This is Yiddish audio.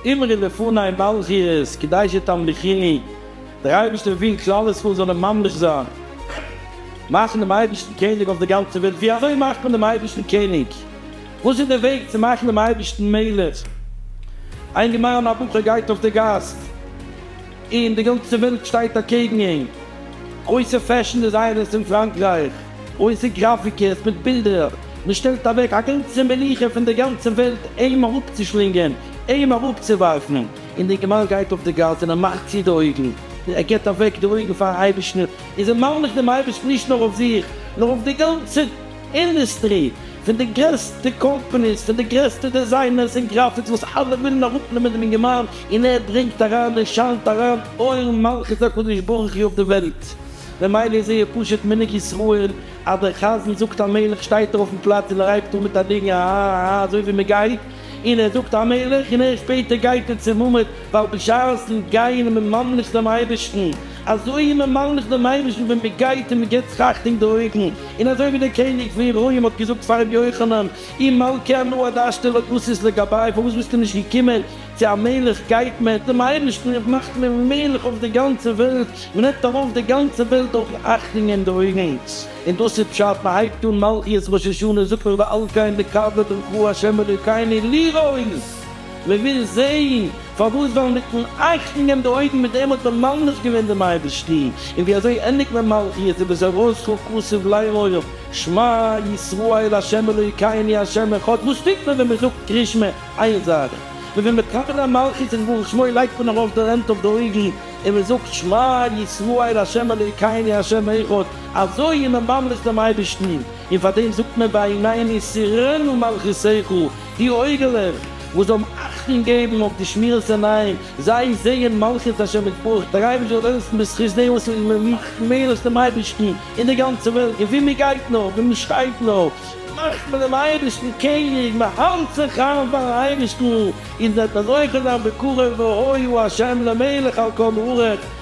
אמרי לפני מלכי את קדשי תמליכיני, דער אייבערשטער וויל כלל ישראל זאלן ממליך זיין, מאכן דעם אייבערשטן קעניג אויף דער גאנצער וועלט, ווי אזוי מאכט מען דעם אייבערשטן קעניג? וואס איז דער וועג צו מאכן דעם אייבערשטן מלך? איין גמרא, א בחור גייט אויף דער גאס. און די גאנצע וועלט שטייט אקעגן אים, גרויסע פעשן דעזיינערס אין פראנקרייך, גרויסע גראפיקערס מיט בילדער, מען שטעלט אוועק א גאנצע מלוכה פון די גאנצע וועלט אים אראפצושלינגען, אים אראפצואווארפן, און די גמל גייט אויף די גאס און ער מאכט צו די אויגן, ער גיבט אוועק די אויגן פארן אייבערשטן, און זיי מעלדן פארן אייבערשטן נישט נאר אויף זיך, נאר אויף די גאנצע. אינדוסטרי, פון די גרעסטע קאמפאניס, פון די גרעסטע דעזיינערס און גראפיקס וואס אלע ווילן אראפנעמען דעם אינגערמאן און ער ברענגט אריין און שיינט אריין אור מלכות הקדוש ברוך הוא אויף די וועלט, ממילא איז זייער פשוט מנהג ישראל אז דער חזן זאגט המלך שטייט ער אויפן פלאץ און ער הייבט אן מיט א ניגון א ה א ה אזוי ווי מען גייט. און ער זאגט א מלך, און ערשט שפעטער גייט ער צום מומעט, ווייל בשעת'ן גייען און מ'ממליך דעם אייבערשטן, אזוי איז מען ממליך דעם אייבערשטן ווען מען גייט און מען געבט זיך אכטונג די אויגן, און אזוי ווי דער קעניג פון רוים האט געזאגט פאר רבי יוחנן, אם מלכי אנא עד אשתו לא תסיס לגבי, פארוואס ביסטו נישט געקומען, צו א מלך גייט מען צום אייבערשטן און מאכט מען מלך אויף די גאנצע וועלט, מען נעמט ארויף די גאנצע וועלט אויפן אכטונג אין די אויגן. און דאס איז פשט, מען הייבט אן מלכיות ראש השנה זאגט מען ועל כן נקווה ברכו השם אלקינו לראות, מען וויל זען, פארוואס ווייל מיטן עפענען די אויגן מיט דעם האט מען ממליך געווען דעם אייבערשטן, און ווי אזוי ענדיגט מען מלכיות איז ביז ארויס כל כסוף לראות, שמע ישראל השם אלקינו השם אחד, וואס טוט מען ווען מען זאגט קרי שמע? איין זאך, מען וויל מקבל זיין מלכות און ברך שמו לייגט מען ארויף די הענט אויף די אויגן און מען זאגט שמע ישראל השם אלקינו השם אחד, אזוי איז מען ממליך דעם אייבערשטן, און פאר דעם זאגט מען ביי עינינו יסורינו מלכותיך, די אויגעלעך וואס זאלן אכטונג געבן אויף די שמירת עיניים, זיי זעען מלכות השם יתברך, דער אייבערשטער זאל העלפן בזכות דעם וואס איז ממליך מעלות דעם אייבערשטן אין די גאנצע וועלט, און וואו מען גייט נאר, וואו מען שטייט נאר, מאכט מען דעם אייבערשטן קעניג, מען האלט זיך איין פארן אייבערשטן, איר זענט אזוי חזק בקרוב והוי הוא השם למלך על כל ארץ.